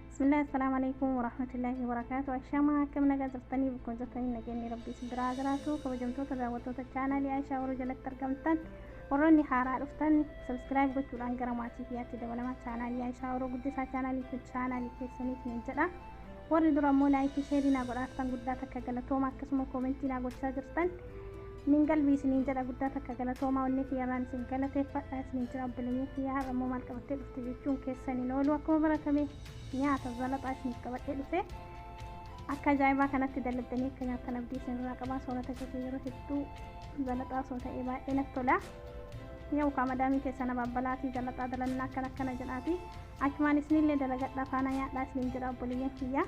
bismillah assalaamu alaikum warahmatullaahi wabarakaatu ashamaa akkam nagaa jirtanii bukkoon jirtanii nageenyi rabbii isin biraa jiraatu kabajamtoota daawwattoota chaanaalii aishaa warra jalatti argamtan warroonni haaraa dhuftan sabskiraayib gochuudhaan gara maatii kiyyaatti dabalamaa chaanaalii aishaa warra guddisaa chaanaalii kun chaanaalii keessaniif nan jedha warri dura immoo laayikii sheerii naa godhaartan guddaa takka galatooma akkasuma koomentii naa gochaa jirtan Nin galbii isiniin jedha guddaa takka galatoomaa onnee kiyyarraan isin galateeffadha isiniin jira obboleeyyan kiyya har'a immoo maal qabattee dhufte jechuun keessan hin oolu akkuma baratame nyaata zalaxaa isiniif qabadhee dhufe akka ajaa'ibaa kanatti dalagdanii akka nyaattan abdii isinirraa qabaa soorata keessan yeroo hedduu zalaxaa osoo ta'ee baay'ee natti tola yoo kaa madaamii keessan abaabbalaatii zalaxaa dalannaa akkan akkana jedhaatii achumaan isinillee dalagadhaa faanaa nyaadhaa isiniin jedha obboleeyyan kiyyaa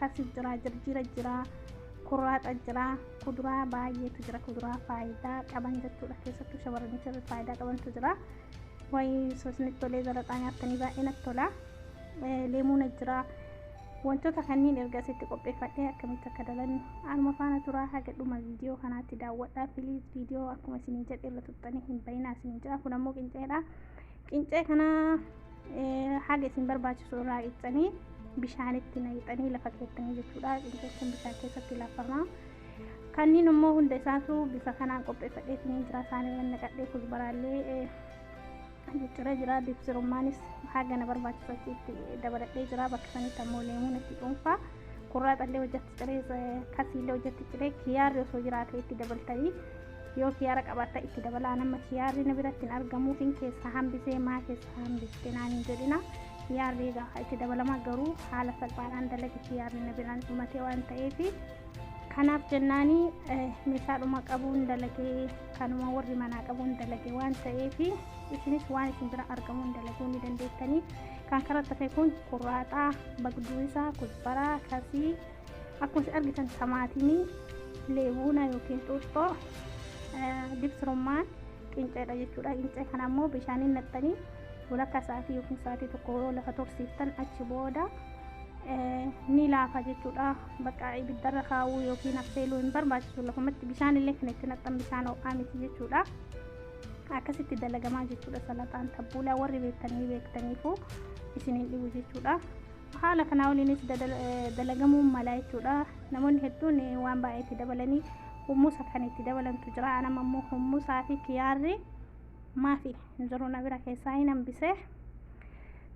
Kasif jira, jirjira jira, kurraaxa jira, kuduraa baay'eetu jira. Kuduraa faayidaa qaban jechuudha. Keessattuu shamarranii fi faayidaa qabantu jira. Waa'ee sosni tolee zalaxaa nyaattanii baay'ee natti tola. Eh, Leemuuna jira. Wantoota kanneen erga asitti qopheeffadhee akkamitti akka dalannu anuma faana turaa haga dhuma viidiyoo kanaatti daawwadhaa. Piliis viidiyoo akkuma isiniin jedhe irra tuttanii hin bayinaa isiniin jedha. Kun ammoo qinceedha. Qincee kana haga isin barbaachisu irraa qicanii bishaanitti naqxanii lafa keessanii jechuudha. Qincee kun bishaan keessatti lafama. Kanneen immoo hunda isaatu bifa kanaan qopheeffadhee isiniin jira. Isaanii kan naqadhee kuzbaraallee jijjiiree jira. Dibsirummaanis haga na barbaachisu achitti dabaladhee jira. Bakka sanitti ammoo leemuun itti dhuunfaa. Kurraa xallee hojjatti ciree kasiillee hojjatti ciree kiyaarri osoo jiraate itti dabaltanii Yoo kiyaara qabaatta itti dabalaa nama kiyaarri na biratti hin argamuufin keessaa hambisee maa keessaa hambiste naan hin jedhina. Kiyaarri egaa haa itti dabalamaa garuu haala salphaadhaan dalagi kiyaarri na biraan dhumatee waan ta'eef kanaaf jennaani meeshaadhuma qabuun dalagee kanuma warri manaa qabuun dalage waan ta'eef isinis waan isin bira argamuun dalaguu ni dandeettanii kan karaa tafe kun kurraaxaa bagduu isaa kusbaraa kasii Akkuma isin argitan samaatimii leebuuna yookiin xuuxxoo dibsirummaan qinceedha jechuudha. Qincee kana ammoo bishaaniin naqxanii walakkaa sa'aatii yookiin sa'aatii tokko yoo lafa tursiiftan achi booda ni laafa jechuudha. Bakka ibiddarra kaa'uu yookiin affeeluu hin barbaachisu lafumatti bishaan illee kan itti naqxan bishaan ho'aa miti jechuudha. Akkasitti dalagamaa jechuudha salaxaan tabbuulaa warri beektanii beektaniifu isiniin dhibu jechuudha. Haala kanaa waliinis dalagamuun malaa jechuudha. Namoonni hedduun waan baay'ee itti dabalanii hummusa kan itti dabalantu jira. Anam ammoo hummusaa fi kiyaarri maafi hin jiru na bira keessaa hin hambise.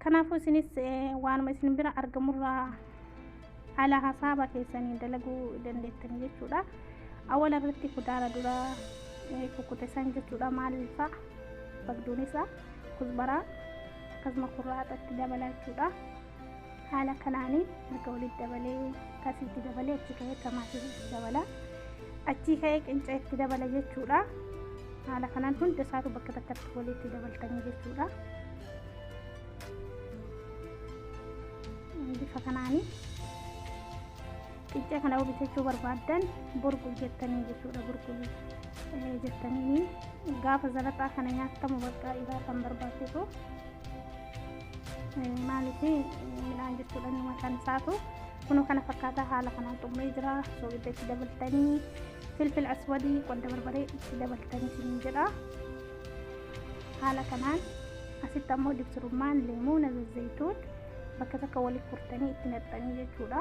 Kanaafuu isinis waanuma isin bira argamurraa haala hasaaba keessanii dalaguu dandeettan jechuudha. Awwala irratti kudaara dura kukkute san jechuudha maal fa'a bagduun isaa. kuzbaraa akkasuma kurraaxa itti dabalaa jechuudha. Haala kanaanii erga walitti dabalee kasii itti dabalee achi ka'ee tamaatii itti dabala. Achii ka'ee qincee itti dabala jechuudha. Haala kanaan hunda isaatu bakka takkatti walitti dabaltanii jechuudha. Bifa kanaanii Qiccee kana yoo bitachuu barbaaddan burqu jettanii jechuudha burqu eh, jettanii gaafa zalaxaa kana nyaattamu bakka isaa kan barbaachisu Eh, maaliif eh, midhaan jechuudha inni mataan isaatu kunoo kana fakkaataa haala kanaan xumuree jira soogidda itti dabaltanii filfil aswadii qodda barbaree itti dabaltanii siin jedha haala kanaan asitti ammoo dibsirummaan leemuuna zazzayituun bakka takka walitti furtanii itti naqxanii jechuudha.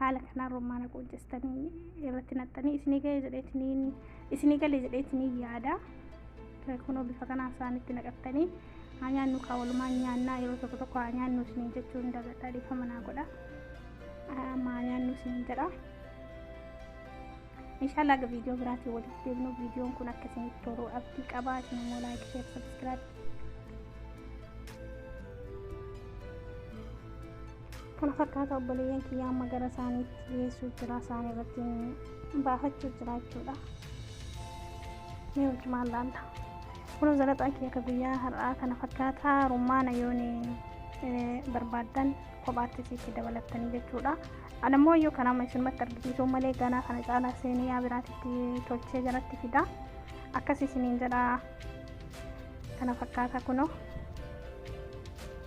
haala kanaan romaana quuccistanii irratti naxxanii isinii galee jedheetiniin isinii galee jedheetiniin yaada kunoo bifa kanaan isaanitti naqattanii haa nyaannu kaa walumaan nyaannaa yeroo tokko tokko haa nyaannu isiniin jechuu hin dagadhaa dhiifama naa godha amma haa nyaannu isiniin jedha inshallah aga viidiyoo biraatiin walitti deemnu viidiyoon kun akka isinitti tolu abdii qabaa isin immoo laayik sheer sabskiraayib kana fakkaata obboleeyyan kiyya amma gara isaaniitti dhiyeessuuf jira isaan irratti baafachuuf jira jechuudha mee wajjumaan laalla kunoo zalaxaan kiyya akka guyyaa har'aa kana fakkaata rummaana yoon barbaaddan kophaatti isiitti dabalattanii jechuudha anammoo yoo kanama isinumatti argisiisuu malee ganaa kana caalaa seenee yaa biraatitti tolchee jalatti fida akkas isiniin jedha kana fakkaata kunoo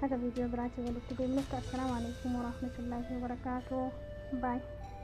Haga viidiyoo biraatiin walitti deebinutti assalaamu alaikum warahmatullaahi wabarakaatuh. Baay.